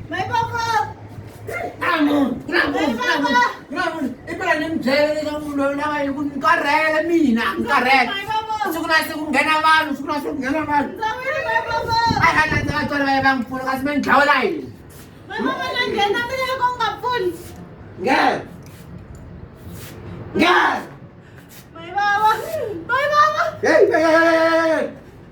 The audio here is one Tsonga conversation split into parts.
May papa! Ramon! Ramon! Ramon! Ramon! Ipala ni mbyele ka munhu loyi lava yi ku ni karhele mina ni karhele siku na siku nghena vanhu siku na siku nghena vanhu a hi nga ndzi vatswari va ye va n'wi pfuna kasi me ni dlawela yini nghena nghena Hey, hey, hey, hey, hey.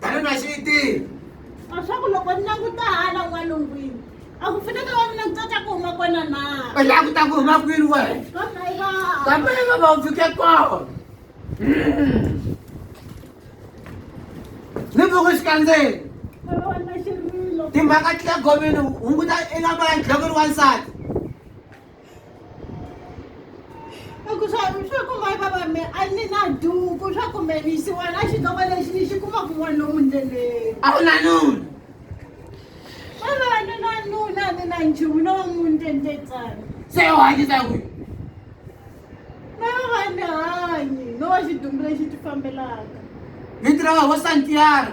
tani na xiyitini leswaku loko ni languta hala n'walungwini a ku fanele va mina kutsatsa ku huma kona na u languta ku huma kwini wena kambe va va u fike kona ni vuku xikandzeni timhaka ti le gomini hunguta i nga mbala nhlokweni wansati ku swa swa ku mai baba me a ni na duku swa ku me ni yisiwa na xidloko lexi ni xi kuma kun'wana lomu ndleleni a ku na nuna baba a ni na nuna a ni na nchumu no va munhu tendetsana se u hanyisa kwi na baba a ni hanyi no va xidumbu lexi ti fambelaka vito ra wena vo santiago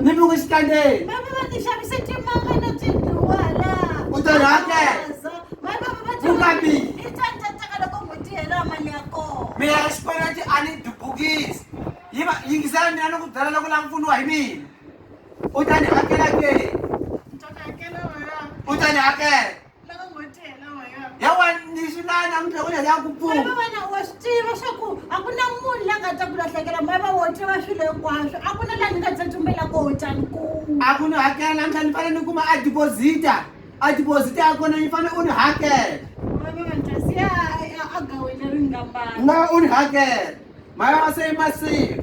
ni mi wisitandeni u ta rhangela vukambini mina ya xikweleti a ni dubukisi yi va yingisela mina ni ku byela loko lava pfuniwa hi mina u ta ni hakela ke u ta ni hakela ya wani ni swi lava namuntlha ku lele ya ku pfuna Mhaiva wena wa swi tiva swa ku a ku na munhu la nga ta ku lahlekela mhaiva wo tiva swilo hinkwaswo a ku na laha ni nga tsetsumbela koho tani ku a ku ni hakela namuntlha ni fanele ni kuma a deposita a deposita ya kona yi fanele u ni hakela mhaiva vantlasi ya ya agawini ri ngambana na u ni hakela mhaya wa se yi masiku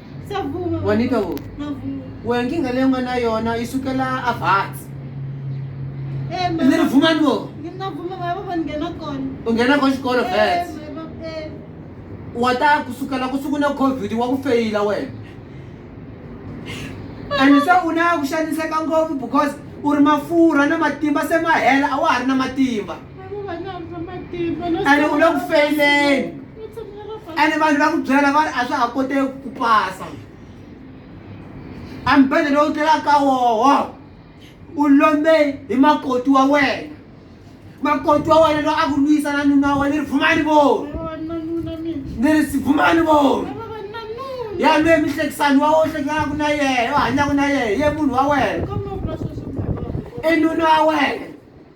Sa vuma. Wanita wo. Na vuma. Wewe nkinga leyi nga na yona yi sukela a Vhatsi. Eh, mama. Ni ri vuma ni wo. Ni na vuma va va nghena kona. U nghena ko xikolo Vhatsi. Eh, mama. Eh. Wa ta kusukela ku sukuna COVID wa ku feyila wena. And se u na ku xaniseka ngopfu because u ri mafurha na matimba se ma hela a wa ha ri na matimba. a ri u le ku feyileni ene vanhu va ku byela va ri a swa ha koteki ku pasa a mbhele lowu tlelaka ka woho u lombe hi makoti wa wena makoti wa wena loyi a ku lwisa na nuna wa wena ni ri vumani voni ni ri vumani voni ya lwe mihlekisani wa wo hlekisanaku na yena u hanyaku na yena ye munhu wa wena i nuna wa wena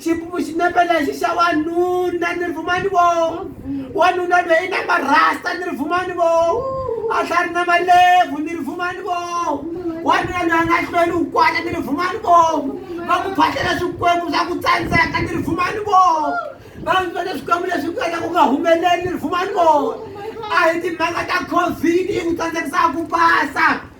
xipumu xinepe lexi xa wanuna ni ri vumani vo wanuna lweyi na marasta ni ri vumani vo a tlha ri na malevhu ni ri vumani vo wanuna lweyi a nga hlweli wu kwana ni ri vumani vo va ku phahlela swikwembu swa ku tsandzeka ni ri vumani vo va vona swikwembu leswi ku endla ku nga humeleli ni ri vumani vo a hi timhaka ta covid yi ku tsandzekisa ku pasa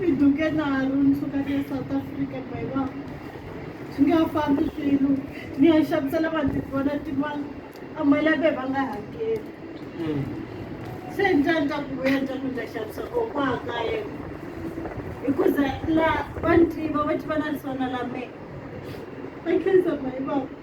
ni duke nalo ni suka ni ya south africa mayiwa swi nga fambi swilo ni ya xavisela vanhu tivona timali a mali ya ve va nga hakeli hmm. se njani ta ku vuya njani ni ta xavisa ko kwa ka yena hikuza la va ni tiva va tiva na lisona la me va khensa mayivaku